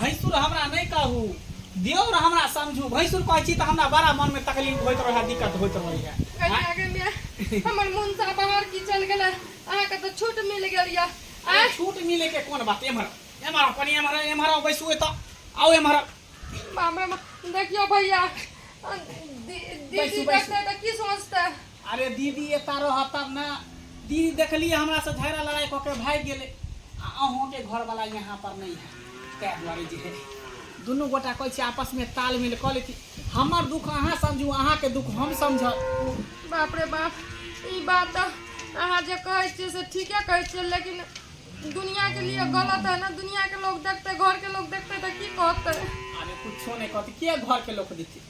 भैंसुर हमरा नहि कहू देवर हमरा समझू भैंसुर कहै छी तऽ हमरा बड़ा मन में तकलीफ होइत रहै दिक्कत होइत रहैए कनी आगे में हमर मन से बाहर की चल गेल अहाँ के तो छूट मिल गेल या अरे छूट मिले के कोन बात एम्हर एम्हर अपन एम्हर एम्हर बैसू एतऽ आउ एम्हर बाप रे बाप, देखियो भैया दीदी बैसू, बैसू। देखते तो की सोचते अरे दीदी एतऽ रह तब ने दीदी देखलिए हमरा से झगड़ा लड़ाई कऽ के भाग गेले आ अहूँ के घर वाला यहाँ पर नहीं है तै दुआरे जे है दुनू गोटा कहै छी आपस में तालमेल कऽ लेती हमर दुख अहाँ समझू अहाँ के दुख हम समझब बाप रे बाप ई बात तऽ अहाँ जे कहै छियै से ठीके कहै छियै लेकिन दुनिया के लिए गलत है ना दुनिया के लोग देखते घर के लोग देखते तऽ की कहते अरे कुछो नहीं कहती के घर के लोग देखते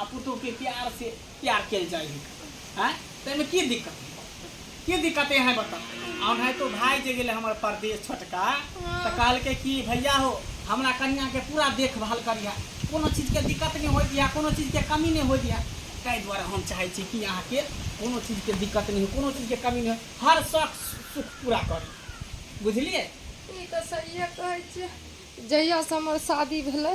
आ पुतोहके प्यार से प्यार कयल जाइ है आँय तऽ एहिमे की दिक्कत है की दिक्कत है अहाँ बताउ आ ओनाहितो भाय जे गेलै हमर परदेश छोटका तऽ कहलकै कि भैया हो हमरा कनियाँके पूरा देखभाल करिहे कोनो चीजके दिक्कत नहि होय दिहे कोनो चीजके कमी नहि होय दिहे ताहि दुआरे हम चाहै छी कि अहाँके कोनो चीजके दिक्कत नहि हो कोनो चीजके कमी नहि हो हर शौक सुख पूरा करी बुझलियै ई तऽ सहिए कहै छियै जहियासँ हमर शादी भेलै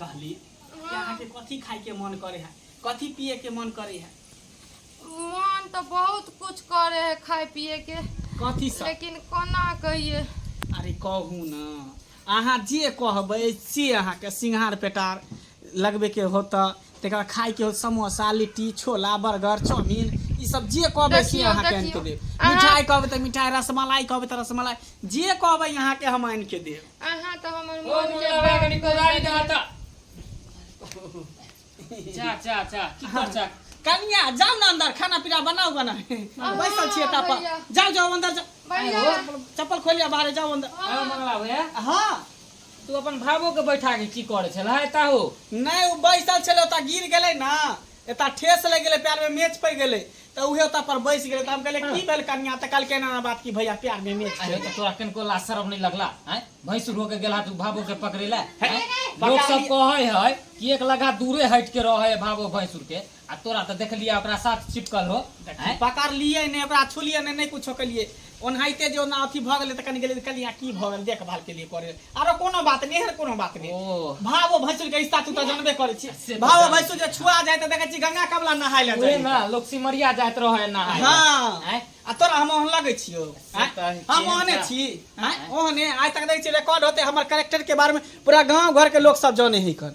कहली कि अहाँके कथी खाइके मन करे है कथी पिएके मन करे है मन तो बहुत कुछ करे है खाए पिए के कथी सब लेकिन कोना कहिए अरे कहू न अहाँ जे कहबै से अहाँके सिंघार पेटार लगबैके हो तऽ तकरा खाइके हो समोसा लिट्टी छोला बर्गर चाउमीन ई सब जे कहबै से देखियौ, अहाँके आनि के देखियौ। देब अहाँ- मिठाइ कहबै तऽ मिठाइ रसमलाई कहबै तऽ रसमलाई जे कहबै अहाँके हम आनि के देब अहाँ तऽ हमर ओ मन मुला बाबा कनी कोदारी दे हटा चा चा चा की कर चा कनिया जाओ ना अंदर खाना पीना बनाओ बना बैसल छिए ता पर भैया। जाओ जाओ अंदर जाओ भैया चप्पल खोलिया बाहर जाओ अंदर आ मंगला भैया हाँ तू अपन भावो के बैठा के की करे छल है ताहो नहीं वो बैसल छले ओता गिर गेले ना एता ठेस लग गेले पैर में मेच पड़ गेले तऽ उहे ओतऽ पर बैस गेलै तऽ हम कहले की भेल कन्या तऽ कहलके एना एना बात की भैया प्यार में मैच अरे तो तोरा किनको लाज शरम नहीं लगला हैं भैंस रो के गेला तू भाबो के पकड़े ला हैं? पका लोग सब लिए। कहे है कि एक लगा दूरे हट के रहे है भाबो भैंसुर के आ तोरा तो देख लिया ओकरा साथ चिपकल हो हैं? पकड़ लिए ने ओकरा छुलिए ने नहीं कुछो कलिए ओनाहिते जे ओना अथी भऽ गेलै तऽ कनि गेलै कनिया की भऽ गेल देखभाल के लिए करे आरो कोनो बात नहि एहन कोनो बात नहि भावो भैंसुर के रिश्ता तू तऽ जानबे करै छी भावो भैंसुर जे छुआ जाय तऽ देखै छी गंगा कमला नहाय ले जाय ना लोग सिमरिया जाइत रहै नहाय हां आ तोरा हम ओहन लगै छियो हम ओहने छी ओहने आइ तक देखै छी रिकॉर्ड होते हमर कैरेक्टर के बारे में पूरा गांव घर के लोग सब जाने ही कन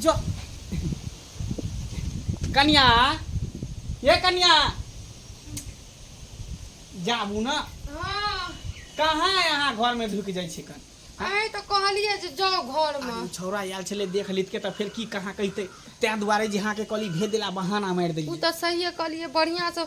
जो कन्या ये कन्या जाबू ना हाँ कहाँ यहाँ घर में ढुक जाइ छिकन आइ तऽ कहलियै जे जाउ घरमे आदमी छौड़ा आयल छलै देख लितके तऽ फेर की कहाँ कहितै ताहि दुआरे जे अहाँके कहली भेज देला बहाना मारि ओ देलियै तऽ सहिए कहलियै बढ़िआँसँ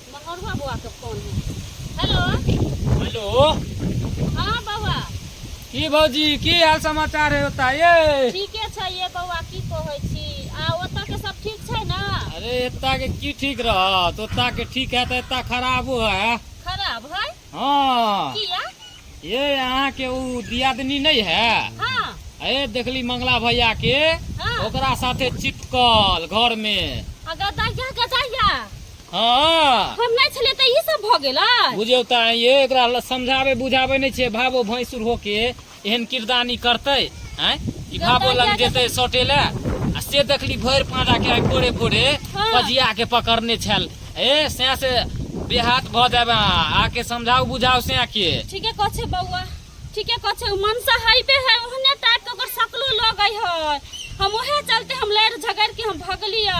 मगरुआ बौआ के फोन है हेलो हेलो हाँ बौआ की भौजी की हाल समाचार है ओता ये ठीके छै ये बौआ की कहै छी आ ओतऽ के सब ठीक छै ना अरे एता के की ठीक रहत ओता के ठीक है तो एता खराबो है खराब है हाँ किया ये यहाँ के उ दियादनी नहीं है हाँ ए देखली मंगला भैया के हाँ ओकरा साथे चिपकल घर में आ गदाइया गदाइया हाँ हम नहीं छलिए तऽ ई सब भऽ गेलै बुझौ तऽ ये एकरा ल- समझाबे बुझाबे नहि छै भाबो भैंसुर होके एहन किरदान ई करतै आँय ई भाबो लग जेतै सटे लए आ से देखली भरि पाँजा के आइ भोरे भोरे हाँ। बजिया के पकड़ने छल ए सैं से बेहात भऽ जाबे अहाँ। आके समझाउ बुझाउ सैं के ठीके कह छै बौआ ठीके कह छै उ मनसा हइबे है ओहने टाइप के ओकर सकलो लगै है हम ओहे चलते हम लड़ झगड़ के हम भगली आ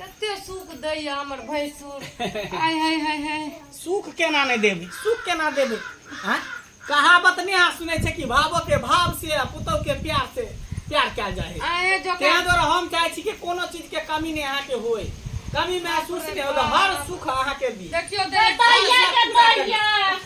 कते सुख दैया हमर भैंसुर हाय हाय हाय हाय सुख केना नहि देबै सुख केना देबै आँय कहावत नहि अहाँ सुनै छै कि भावो के भाव से आ पुतहु के प्यार से प्यार कयल जाइ है आए जो ताहि दुआरे हम चाहै छी कि कोनो चीज के कमी नहि अहाँके होय कमी महसूस नहि होय हर सुख अहाँके दी देखियो देखियो बढ़िया के बढ़िया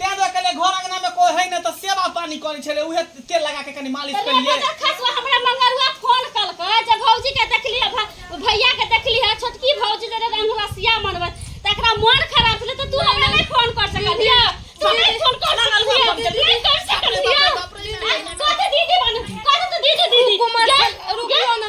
तें देख के लिए घर अंगना में कोई है ना तो सेवा पानी करे छले उहे तेल लगा के कनी मालिश कर लिए खसवा हमरा मंगरुआ फोन कलकै जे भौजी के देखली है भ- भैया के देखली है छोटकी भौजी जे रंगवा सिया मनबै त एकरा मन खराब छलै त तू हमरा नै फोन कर सकलिय तू नै फोन कर सकलिय नै कर सकलिय कथि दीदी बन कथि तू दीदी दीदी रुकियो ना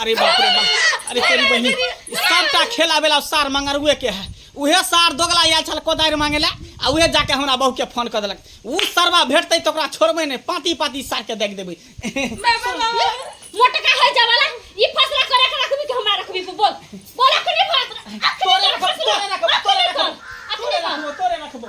अरे बाप रे बाप अरे तेरी बहनी सबटा खेला बेला सार मंगरुए के है उहे सार दोगला आयल छल कोदारि मांगे ला आ उहे जाके हमरा बहू के फोन कर देलक उ सरवा भेटतै तऽ ओकरा छोड़बै नहि पाती पाती सार के देख देबै मोटका है जवाला ई फसला करे के रखबी कि हमरा रखबी को बोल बोल अखनी बात अखनी तोरे रखबो, तोरे रखबो, तोरे रखबो, तोरे रखबो।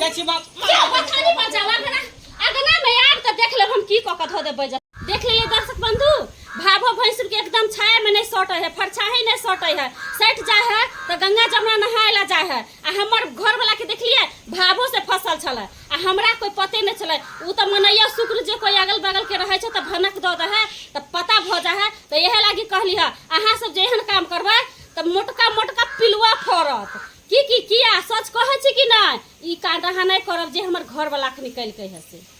जाइ छी बाप जे ओछानी पर जा लग ना अगना में आब त देख लेब हम की क के धो देबै जा देख लेले दर्शक बंधु भाभो भैंसुर के एकदम छाया में नहीं सटे है फरछा ही नहीं सटे है सट जाए है तो गंगा जमुना नहाए ला जाए है आ हमर घर वाला के देखलिए भाभो से फसल छल आ हमरा कोई पते नहीं छल उ तो मनैया शुक्र जे कोई अगल बगल के रहे छे तो भनक दऽ दे है तो पता भ जा है तो यह लागी कहली है अहाँ सब जेहन काम करबै तो मोटका मोटका पिलुआ फड़त की की किया सच कहै छी कि नहि ई कांड अहाँ नहि करब जे हमर घरवलाके निकलि कहि हँसी